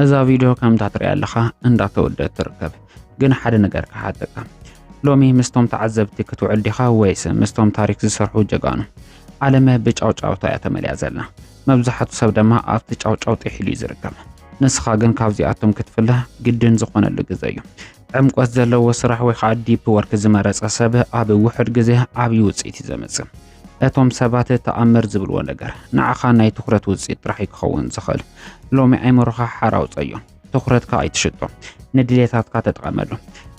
እዛ ቪድዮ ከምታ ትሪያ ኣለኻ እንዳተወደት ትርከብ ግን ሓደ ነገር ክሓተካ ሎሚ ምስቶም ተዓዘብቲ ክትውዕል ዲኻ ወይስ ምስቶም ታሪክ ዝሰርሑ ጀጋኑ ዓለመ ብጫውጫውታ እያ ተመልያ ዘላ መብዛሕቱ ሰብ ድማ ኣብቲ ጫውጫው ጢሒሉ እዩ ዝርከብ ንስኻ ግን ካብዚኣቶም ክትፍለ ግድን ዝኾነሉ ግዘ እዩ ዕምቆት ዘለዎ ስራሕ ወይ ከዓ ዲፕ ወርክ ዝመረፀ ሰብ ኣብ ውሑድ ግዜ ዓብዪ ውፅኢት እዩ ዘምፅእ። እቶም ሰባት ተኣምር ዝብልዎ ነገር ንዓኻ ናይ ትኹረት ውፅኢት ጥራሕ እዩ ክኸውን ዝኽእል። ሎሚ ኣይምሮኻ ሓራ ኣውፀዮ፣ ትኹረትካ ኣይትሽጦ፣ ንድሌታትካ ተጠቐመሉ።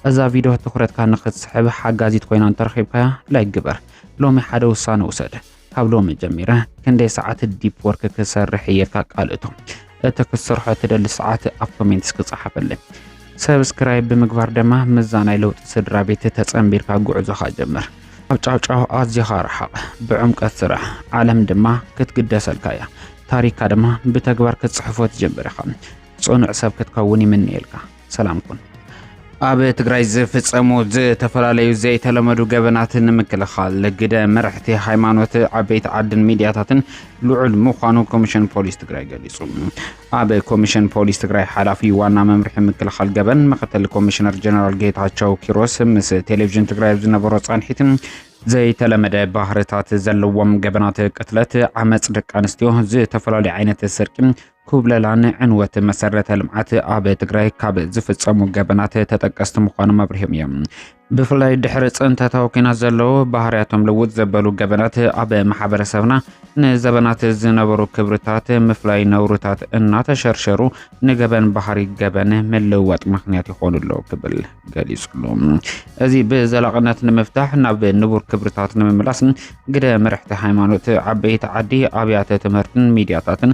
እዛ ቪድዮ ትኹረትካ ንኽትስሕብ ሓጋዚት ኮይና እንተረኺብካያ ላይክ ግበር። ሎሚ ሓደ ውሳነ ውሰድ። ካብ ሎሚ ጀሚረ ክንደይ ሰዓት ዲፕ ወርክ ክሰርሕ እየ እልካ ቃል እቶ እቲ ክትሰርሖ ትደሊ ሰዓት ኣብ ኮሜንት እስኪ ጸሓፈለይ። ሰብስክራይብ ብምግባር ድማ ምዛ ናይ ለውጢ ስድራ ቤት ተጸንቢርካ ጉዕዞኻ ጀምር። ኣብ ጫውጫው ኣዝኻ ረሓቕ፣ ብዕምቀት ስራሕ፣ ዓለም ድማ ክትግደሰልካ እያ። ታሪካ ድማ ብተግባር ክትጽሕፎ ትጀምር ኢኻ። ጽኑዕ ሰብ ክትከውን ይምነየልካ። ሰላም ኩን ኣብ ትግራይ ዝፍጸሙ ዝተፈላለዩ ዘይተለመዱ ገበናት ንምክልኻል ግደ መራሕቲ ሃይማኖት ዓበይቲ ዓድን ሚድያታትን ልዑል ምዃኑ ኮሚሽን ፖሊስ ትግራይ ገሊጹ። ኣብ ኮሚሽን ፖሊስ ትግራይ ሓላፊ ዋና መምርሒ ምክልኻል ገበን ምክትል ኮሚሽነር ጀነራል ጌታቸው ኪሮስ ምስ ቴሌቪዥን ትግራይ ኣብ ዝነበሮ ጻንሒት ዘይተለመደ ባህርታት ዘለዎም ገበናት ቅትለት፣ ዓመፅ ደቂ ኣንስትዮ፣ ዝተፈላለዩ ዓይነት ስርቂ፣ ኩብለላን ዕንወት መሰረተ ልምዓት ኣብ ትግራይ ካብ ዝፍፀሙ ገበናት ተጠቀስቲ ምዃኖም ኣብሪሆም እዮም። ብፍላይ ድሕሪ ፅንተታዊ ኲናት ዘለዉ ባህርያቶም ልውጥ ዘበሉ ገበናት ኣብ ማሕበረሰብና ንዘበናት ዝነበሩ ክብርታት ምፍላይ ነውርታት እናተሸርሸሩ ንገበን ባህሪ ገበን ምልውዋጥ ምክንያት ይኾኑ ኣለዉ ክብል ገሊጹሉ። እዚ ብዘላቕነት ንምፍታሕ ናብ ንቡር ክብርታት ንምምላስ ግደ መርሕቲ ሃይማኖት፣ ዓበይቲ ዓዲ፣ ኣብያተ ትምህርትን ሚዲያታትን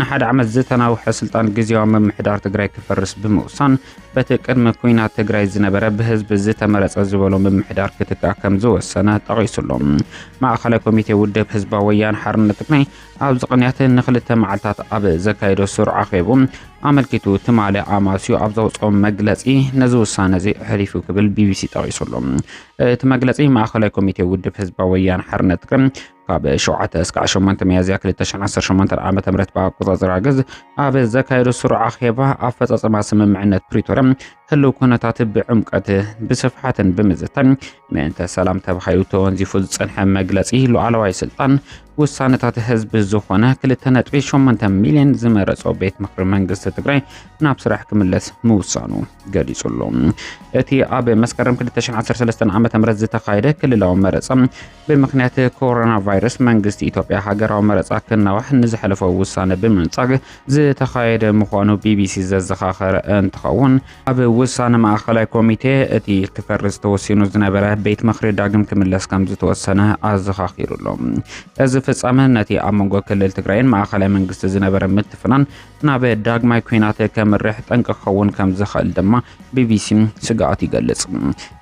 ንሓደ ዓመት ዝተናውሐ ስልጣን ግዜያዊ ምምሕዳር ትግራይ ክፈርስ ብምውሳን በቲ ቅድሚ ኩናት ትግራይ ዝነበረ ብህዝቢ ዝተመረፀ ዝበሎ ምምሕዳር ክትካእ ከም ዝወሰነ ጠቒሱ ኣሎ። ማእኸላይ ኮሚቴ ውድብ ህዝባዊ ወያነ ሓርነት ትግራይ ኣብዚ ቅንያት ንክልተ መዓልታት ኣብ ዘካየዶ ስሩዕ ኣኼቡ ኣመልኪቱ ትማሊ ኣማስዩ ኣብ ዘውፅኦ መግለፂ ነዚ ውሳነ እዚ ኣሕሊፉ ክብል ቢቢሲ ጠቒሱ ኣሎ። እቲ መግለፂ ማእኸላይ ኮሚቴ ውድብ ህዝባዊ ወያነ ሓርነት ትግራይ ካብ ሸውዓተ እስካዕ ሸሞንተ ሚያዝያ 2018 ዓ ም ብኣቆፃፅራ ግዝ ኣብ ዘካየዱ ስሩዕ ኣኼባ ኣፈፃፅማ ስምምዕነት ፕሪቶርያ ህልው ኩነታት ብዕምቀት ብስፍሓትን ብምዝታን ምእንተ ሰላም ተባሂሉ ተወንዚፉ ዝፀንሐ መግለፂ ሉዓላዋይ ስልጣን ውሳነታት ህዝቢ ዝኾነ 2.8 ሚሊዮን ዝመረፆ ቤት ምክሪ መንግስቲ ትግራይ ናብ ስራሕ ክምለስ ምውሳኑ ገሊጹ ኣሎ። እቲ ኣብ መስከረም 2013 ዓ ም ዝተኻየደ ክልላዊ መረፃ ብምኽንያት ኮሮና ቫይረስ መንግስቲ ኢትዮጵያ ሃገራዊ መረፃ ክናዋሕ ንዝሐለፎ ውሳነ ብምንፃግ ዝተኻየደ ምዃኑ ቢቢሲ ዘዘኻኸረ እንትኸውን ኣብ ውሳነ ማእኸላይ ኮሚቴ እቲ ክፈርስ ተወሲኑ ዝነበረ ቤት ምኽሪ ዳግም ክምለስ ከም ዝተወሰነ ኣዘኻኺሩሎም እዚ ፍፃመ ነቲ ኣብ መንጎ ክልል ትግራይን ማእኸላይ መንግስቲ ዝነበረ ምትፍናን ናብ ዳግማይ ኲናት ከምርሕ ጠንቂ ክኸውን ከም ዝኽእል ድማ ቢቢሲ ስግኣቱ ይገልጽ።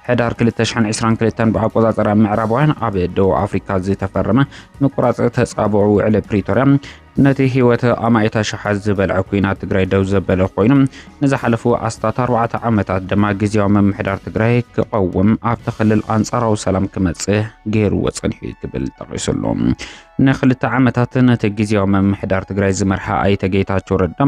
ሕዳር 2022 ብኣቆጻጽራ ምዕራባውያን ኣብ ደቡብ ኣፍሪካ ዝተፈረመ ምቁራጽ ተጻብኦ ውዕሊ ፕሪቶርያ ነቲ ህይወት ኣማኢት ኣሽሓት ዝበልዐ ኩናት ትግራይ ደው ዘበለ ኮይኑ ንዝሓለፉ ኣስታት ኣርባዕተ ዓመታት ድማ ግዜያዊ ምምሕዳር ትግራይ ክቐውም ኣብቲ ክልል ኣንጻራዊ ሰላም ክመጽእ ገይርዎ ጸኒሑ ክብል ጠቒሱሉ። ንክልተ ዓመታት ነቲ ግዝያዊ ምምሕዳር ትግራይ ዝመርሓ ኣይተ ጌታቸው ረዳ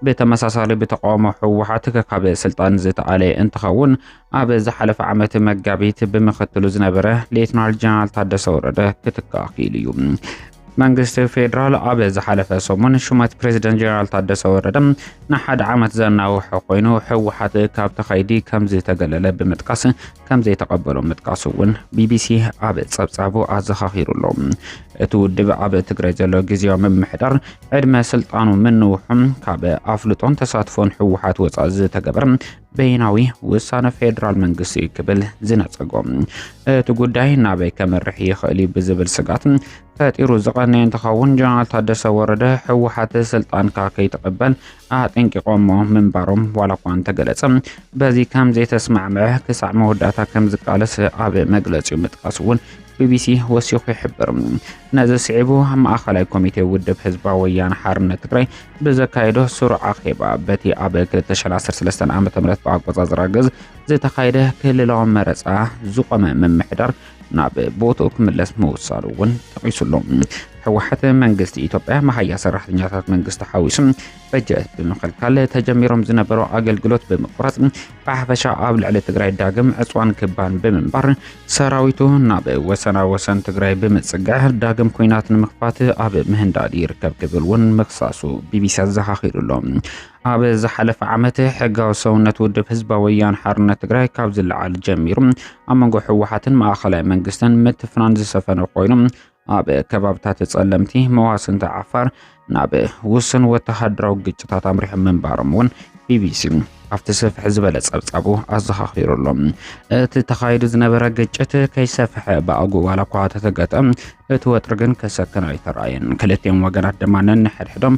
ብተመሳሳሊ ብተቃውሞ ህወሓት ከካብ ስልጣን ዝተኣለየ እንትኸውን ኣብ ዝሓለፈ ዓመት መጋቢት ብምክትሉ ዝነበረ ሌትናል ጀነራል ታደሰ ወረደ ክትካእ ክኢሉ እዩ። መንግስቲ ፌዴራል ኣብ ዝሓለፈ ሰሙን ሹመት ፕሬዚደንት ጀነራል ታደሰ ወረደ ንሓደ ዓመት ዘናውሐ ኮይኑ ህወሓት ካብቲ ከይዲ ከምዝተገለለ ብምጥቃስ ከም ዘይተቐበሎም ምጥቃሱ እውን ቢቢሲ ኣብ ጸብጻቡ ኣዘኻኺሩ ኣሎ። እቲ ውድብ ኣብ ትግራይ ዘሎ ግዜያዊ ምምሕዳር ዕድመ ስልጣኑ ምንውሑም ካብ ኣፍልጦን ተሳትፎን ህወሓት ወፃእ ዝተገበረ በይናዊ ውሳነ ፌዴራል መንግስቲ እዩ ክብል ዝነጸጎ እቲ ጉዳይ ናበይ ከምርሕ ይኽእል እዩ ብዝብል ስጋት ፈጢሩ ዝቐነየ እንትኸውን ጀነራል ታደሰ ወረደ ህወሓት ስልጣንካ ከይትቕበል ኣጠንቂቖሞ ምንባሮም ዋላኳ እንተገለጸ በዚ ከም ዘይተስማዕምዐ ክሳዕ መወዳእታ ከም ዝቃለስ ኣብ መግለጺኡ ምጥቃሱ እውን ቢቢሲ ወሲኹ ይሕብር። ነዚ ስዒቡ ማእኸላይ ኮሚቴ ውድብ ህዝባዊ ወያነ ሓርነት ትግራይ ብዘካየዶ ስሩዕ ኣኼባ በቲ ኣብ 2013 ዓ ም ብኣቆፃፅራ ግዝ ዝተኻየደ ክልላዊ መረፃ ዝቆመ ምምሕዳር ናብ ቦትኡ ክምለስ ምውሳኑ እውን ጠቒሱሉ። ህወሓት መንግስቲ ኢትዮጵያ መሃያ ሰራሕተኛታት መንግስቲ ሓዊሱ በጀት ብምኽልካል ተጀሚሮም ዝነበሩ ኣገልግሎት ብምቁራፅ ብሓፈሻ ኣብ ልዕሊ ትግራይ ዳግም ዕፅዋን ክባን ብምንባር ሰራዊቱ ናብ ወሰና ወሰን ትግራይ ብምፅጋዕ ዳግም ኩናት ንምኽፋት ኣብ ምህንዳድ ይርከብ ክብል እውን ምክሳሱ ቢቢሲ ኣዘኻኺሩሎም። ኣብ ዝሓለፈ ዓመት ሕጋዊ ሰውነት ውድብ ህዝባዊ ወያነ ሓርነት ትግራይ ካብ ዝለዓል ጀሚሩ ኣብ መንጎ ህወሓትን ማእኸላይ መንግስትን ምትፍናን ዝሰፈነ ኮይኑ ኣብ ከባብታት ጸለምቲ መዋስንቲ ዓፋር ናብ ውስን ወተሃደራዊ ግጭታት ኣምሪሑ ምንባሮም እውን ቢቢሲ ኣብቲ ስፍሕ ዝበለ ጸብጻቡ ኣዘኻኺሩ ኣሎ እቲ ተኻይዱ ዝነበረ ግጭት ከይሰፍሐ ብኣጉ ዋላ እኳ ተተገጠ እቲ ወጥሪ ግን ከሰክን ኣይተረኣየን ክልቲኦም ወገናት ድማ ነንሕድሕዶም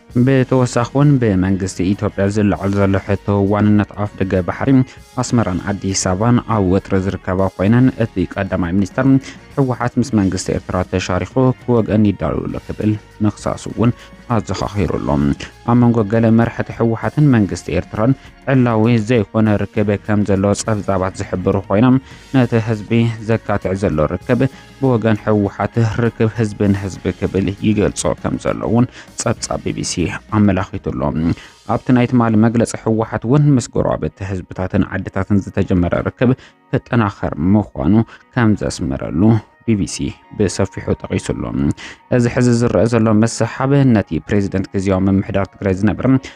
ብተወሳኺ'ውን ብመንግስቲ ኢትዮጵያ ዝለዓል ዘሎ ሕቶ ዋንነት ኣፍደገ ባሕሪ ኣስመራን ኣዲስ ኣበባን ኣብ ወጥሪ ዝርከባ ኮይነን እቲ ቀዳማይ ሚኒስተር ህወሓት ምስ መንግስቲ ኤርትራ ተሻሪኹ ክወግአን ይዳለዉ ኣሎ ክብል ምኽሳሱ እውን ኣዘኻኺሩ ኣሎ። ኣብ መንጎ ገለ መራሕቲ ህወሓትን መንግስቲ ኤርትራን ዕላዊ ዘይኮነ ርክብ ከም ዘሎ ጸብጻባት ዝሕብሩ ኮይኖም ነቲ ህዝቢ ዘካትዕ ዘሎ ርክብ ብወገን ህወሓት ርክብ ህዝቢ ንህዝቢ ክብል ይገልጾ ከም ዘሎ እውን ጸብጻብ ቢቢሲ ኣመላኺቱ ኣሎ። ኣብቲ ናይ ትማሊ መግለጺ ህወሓት እውን ምስ ጎረባብቲ ህዝብታትን ዓድታትን ዝተጀመረ ርክብ ክጠናኸር ምዃኑ ከም ዘስመረሉ ቢቢሲ ብሰፊሑ ጠቒሱ ኣሎ። እዚ ሕዚ ዝረአ ዘሎ ምስሓብ ነቲ ፕሬዚደንት ግዜያዊ ምምሕዳር ትግራይ ዝነበረ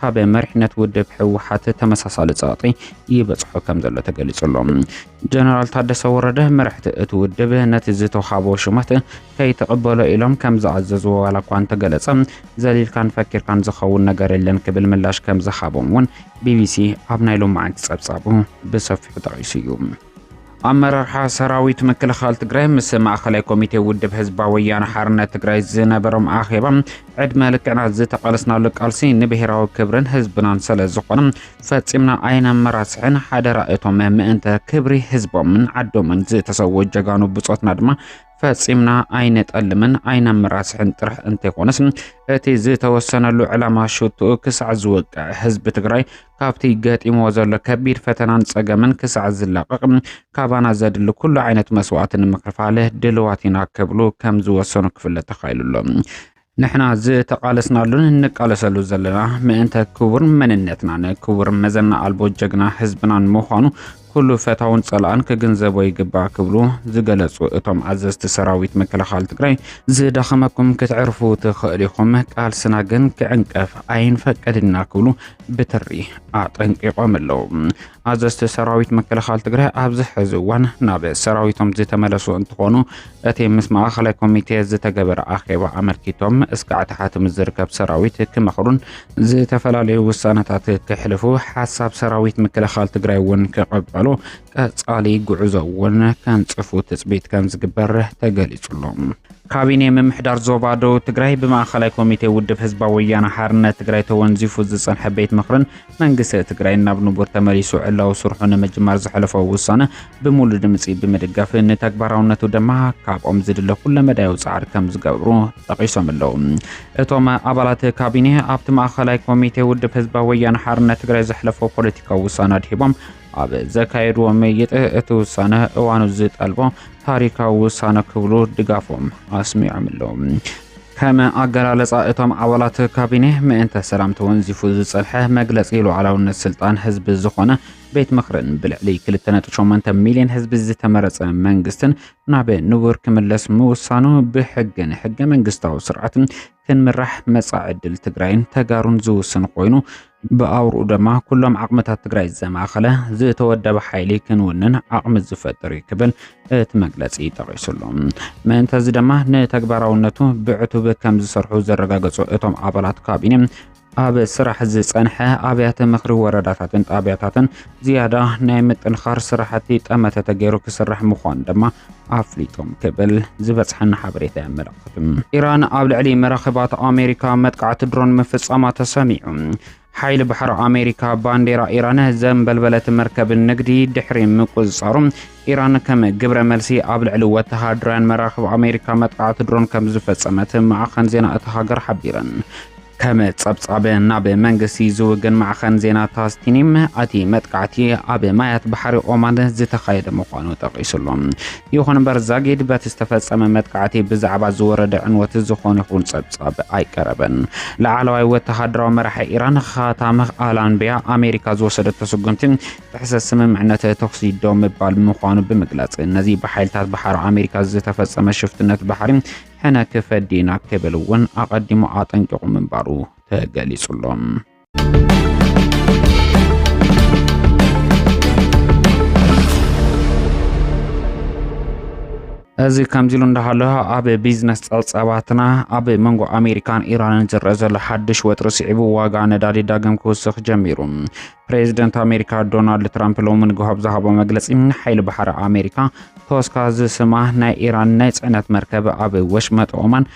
ካብ መሪሕነት ውድብ ህወሓት ተመሳሳሊ ጸቕጢ ይበጽሖ ከም ዘሎ ተገሊጹ ኣሎ። ጀነራል ታደሰ ወረደ መራሕቲ እቲ ውድብ ነቲ ዝተውሃቦ ሽመት ከይተቐበሎ ኢሎም ከም ዝኣዘዝዎ ዋላ እኳ እንተገለጸ ዘሊልካን ፈኪርካን ዝኸውን ነገር የለን ክብል ምላሽ ከም ዝሃቦም እውን ቢቢሲ ኣብ ናይ ሎማዕንቲ ጸብጻቡ ብሰፊሑ ጠቒሱ እዩ። ኣመራርሓ ሰራዊት ምክልኻል ትግራይ ምስ ማእኸላይ ኮሚቴ ውድብ ህዝባዊ ወያነ ሓርነት ትግራይ ዝነበሮም ኣኼባ ዕድመ ልክዕና ዝተቓለስናሉ ቃልሲ ንብሔራዊ ክብርን ህዝብናን ስለ ዝኾነ ፈፂምና ኣይነመራስሕን ሓደራ እቶም ምእንተ ክብሪ ህዝቦምን ዓዶምን ዝተሰወ ጀጋኑ ብፆትና ድማ ፈጺምና ኣይነጠልምን ኣይነመራስሕን ጥራሕ እንተይኮነስ እቲ ዝተወሰነሉ ዕላማ ሽትኡ ክሳዕ ዝወቅዕ ህዝቢ ትግራይ ካብቲ ገጢምዎ ዘሎ ከቢድ ፈተናን ጸገምን ክሳዕ ዝላቐቕ ካባና ዘድሊ ኩሉ ዓይነት መስዋእቲ ንምክፋል ድልዋት ኢና ክብሉ ከም ዝወሰኑ ክፍለጥ ተኻኢሉ ኣሎ። ንሕና ዝተቓለስናሉን እንቃለሰሉ ዘለና ምእንተ ክቡር መንነትናን ክቡር መዘና ኣልቦ ጀግና ህዝብናን ምዃኑ ኩሉ ፈታውን ጸላእን ክግንዘቦ ይግባእ ክብሉ ዝገለጹ እቶም ኣዘዝቲ ሰራዊት ምክልኻል ትግራይ ዝዳኸመኩም ክትዕርፉ ትኽእሉ ኢኹም፣ ቃልስና ግን ክዕንቀፍ ኣይንፈቅድና ክብሉ ብትሪ ኣጠንቂቖም ኣለዉ። ኣዘዝቲ ሰራዊት ምክልኻል ትግራይ ኣብዚ ሕዚ እዋን ናብ ሰራዊቶም ዝተመለሱ እንትኾኑ እቲ ምስ ማእኸላይ ኮሚቴ ዝተገበረ ኣኼባ ኣመልኪቶም እስከ ዕታሓት ምስ ዝርከብ ሰራዊት ክመኽሩን ዝተፈላለዩ ውሳነታት ክሕልፉ ሓሳብ ሰራዊት ምክልኻል ትግራይ እውን ክቐበሉ ቀፃሊ ጉዕዞ እውን ከንፅፉ ትፅቢት ከም ዝግበር ተገሊፁሎም። ካቢኔ ምምሕዳር ዞባ ደቡብ ትግራይ ብማእኸላይ ኮሚቴ ውድብ ህዝባዊ ወያነ ሓርነት ትግራይ ተወንዚፉ ዝፀንሐ ቤት ምኽርን መንግስቲ ትግራይ ናብ ንቡር ተመሊሱ ዕላዊ ስርሑ ንምጅማር ዘሕለፎ ውሳነ ብምሉ ድምፂ ብምድጋፍ ንተግባራውነቱ ድማ ካብኦም ዝድለ ኩለመዳያዊ ፃዕሪ ከም ዝገብሩ ጠቒሶም ኣለዉ። እቶም ኣባላት ካቢኔ ኣብቲ ማእኸላይ ኮሚቴ ውድብ ህዝባዊ ወያነ ሓርነት ትግራይ ዘሕለፎ ፖለቲካዊ ውሳነ ኣድሂቦም ኣብ ዘካየድዎ ምይጥ እቲ ውሳነ እዋኑ ዝጠልቦ ታሪካዊ ውሳነ ክብሉ ድጋፎም ኣስሚዖም ኣለዉ። ከም ኣገላልጻ እቶም ኣባላት ካቢኔ፣ ምእንተ ሰላም ተወንዚፉ ዝጸንሐ መግለጺ ሉዓላውነት ስልጣን ህዝቢ ዝኾነ ቤት ምኽርን ብልዕሊ 2.8 ሚልዮን ህዝቢ ዝተመረጸ መንግስትን ናብ ንቡር ክምለስ ምውሳኑ ብሕግን ሕገ መንግስታዊ ስርዓትን ክንምራሕ መጻኢ ዕድል ትግራይን ተጋሩን ዝውስን ኮይኑ ብኣውርኡ ደማ ኩሎም ዓቕምታት ትግራይ ዘማእኸለ ዝተወደበ ሓይሊ ክንውንን ዓቕሚ ዝፈጥር እዩ ክብል እቲ መግለፂ ጠቒሱሉ። ምእንተዚ ደማ ንተግባራውነቱ ብዕቱብ ከም ዝሰርሑ ዘረጋገፁ እቶም ኣባላት ካቢኔ ኣብ ስራሕ ዝፀንሐ ኣብያተ ምኽሪ ወረዳታትን ጣብያታትን ዝያዳ ናይ ምጥንኻር ስራሕቲ ጠመተ ተገይሩ ክስራሕ ምዃኑ ድማ ኣፍሊጦም ክብል ዝበፅሐና ሓበሬታ የመላኽት። ኢራን ኣብ ልዕሊ መራኽባት ኣሜሪካ መጥቃዕቲ ድሮን ምፍፃማ ተሰሚዑ። ሓይሊ ባሕሪ ኣሜሪካ ባንዴራ ኢራን ዘንበልበለት መርከብ ንግዲ ድሕሪ ምቁፅፃሩ ኢራን ከም ግብረ መልሲ ኣብ ልዕሊ ወተሃደራውያን መራኽብ ኣሜሪካ መጥቃዕቲ ድሮን ከም ዝፈፀመት ማዕኸን ዜና እታ ሃገር ሓቢረን። ከም ጸብጻብ ናብ መንግስቲ ዝውግን ማዕኸን ዜና ታስቲኒም ኣቲ መጥቃዕቲ ኣብ ማያት ባሕሪ ኦማን ዝተኻየደ ምዃኑ ጠቒሱሉ። ይኹን እምበር ዛጊድ በቲ ዝተፈጸመ መጥቃዕቲ ብዛዕባ ዝወረደ ዕንወት ዝኾነ ይኹን ጸብጻብ ኣይቀረበን። ላዕለዋይ ወተሃደራዊ መራሒ ኢራን ኻታም ኣላንቢያ ኣሜሪካ ዝወሰደቶ ስጉምቲ ጥሕሰት ስምምዕነት ተኹሲ ደው ምባል ምዃኑ ብምግላጽ ነዚ ብሓይልታት ባሕሪ ኣሜሪካ ዝተፈጸመ ሽፍትነት ባሕሪ ሕነ ክፈዲ ኢና ክብል እውን ኣቐዲሙ ኣጠንቂቑ ምንባሩ ተገሊጹ ኣሎ። እዚ ከምዚ ኢሉ እንዳሃለ ኣብ ቢዝነስ ጸብጻባትና ኣብ መንጎ ኣሜሪካን ኢራንን ዝረአ ዘሎ ሓድሽ ወጥሪ ስዒቡ ዋጋ ነዳዲ ዳግም ክውስኽ ጀሚሩ። ፕሬዚደንት ኣሜሪካ ዶናልድ ትራምፕ ሎሚ ንግሆ ኣብ ዝሃቦ መግለፂ ሓይሊ ባሕሪ ኣሜሪካ ቶስካ ዝስማ ናይ ኢራን ናይ ፅዕነት መርከብ ኣብ ወሽመጥ ኦማን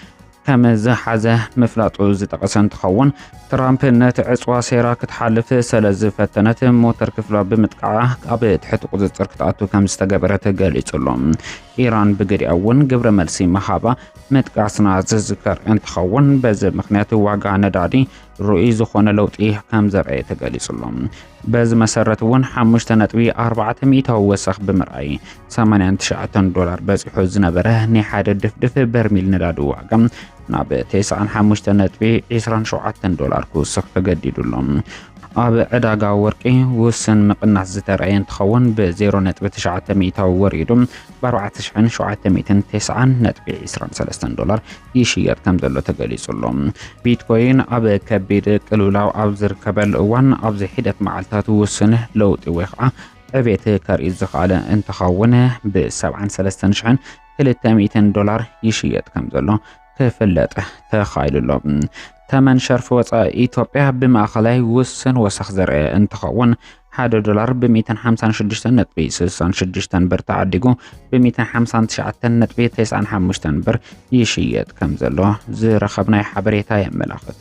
ከም ዝሓዘ ምፍላጡ ዝጠቐሰ እንትኸውን ትራምፕ ነቲ ዕፅዋ ሴራ ክትሓልፍ ስለ ዝፈተነት ሞተር ክፍላ ብምጥቃዓ ኣብ ትሕቲ ቁፅፅር ክትኣቱ ከም ዝተገበረት ገሊጹሉ ኢራን ብግዲያ እውን ግብረ መልሲ መሃባ ምጥቃስና ዝዝከር እንትኸውን በዚ ምክንያት ዋጋ ነዳዲ ርኡይ ዝኾነ ለውጢ ከም ዘርኣየ ተገሊጹሎ። በዚ መሰረት እውን 5.4 ሚእታዊ ወሰኽ ብምርኣይ 89 ዶላር በፂሑ ዝነበረ ናይ ሓደ ድፍድፍ በርሚል ነዳዲ ዋጋ ናብ 95.27 ዶላር ክውስኽ ተገዲዱሎ። ኣብ ዕዳጋ ወርቂ ውስን ምቕናስ ዝተረኣየ እንትኸውን ብ0.9 ሚእታዊ ወሪዱ ብ ኣርባዕተ ሽሕን ሸውዓተ ሚእትን ቴስዓን ነጥቢ ዕስራን ሰለስተን ዶላር ይሽየጥ ከም ዘሎ ተገሊጹ ኣሎ። ቢትኮይን ኣብ ከቢድ ቅልውላው ኣብ ዝርከበሉ እዋን ኣብዚ ሒደት መዓልታት ውሱን ለውጢ ወይ ከዓ ዕቤት ከርኢ ዝኸኣለ እንትኸውን ብ ሰብዓን ሰለስተን ሽሕን ክልተ ሚእትን ዶላር ይሽየጥ ከም ዘሎ ክፍለጥ ተኻኢሉ ኣሎ። ተመን ሸርፊ ወፃኢ ኢትዮጵያ ብማእኸላይ ውስን ወሰኽ ዘርአ እንትኸውን ሓደ ዶላር ብ156.66 ብር ተዓዲጉ ብ159.95 ብር ይሽየጥ ከም ዘሎ ዝረኸብናይ ሓበሬታ የመላኽት።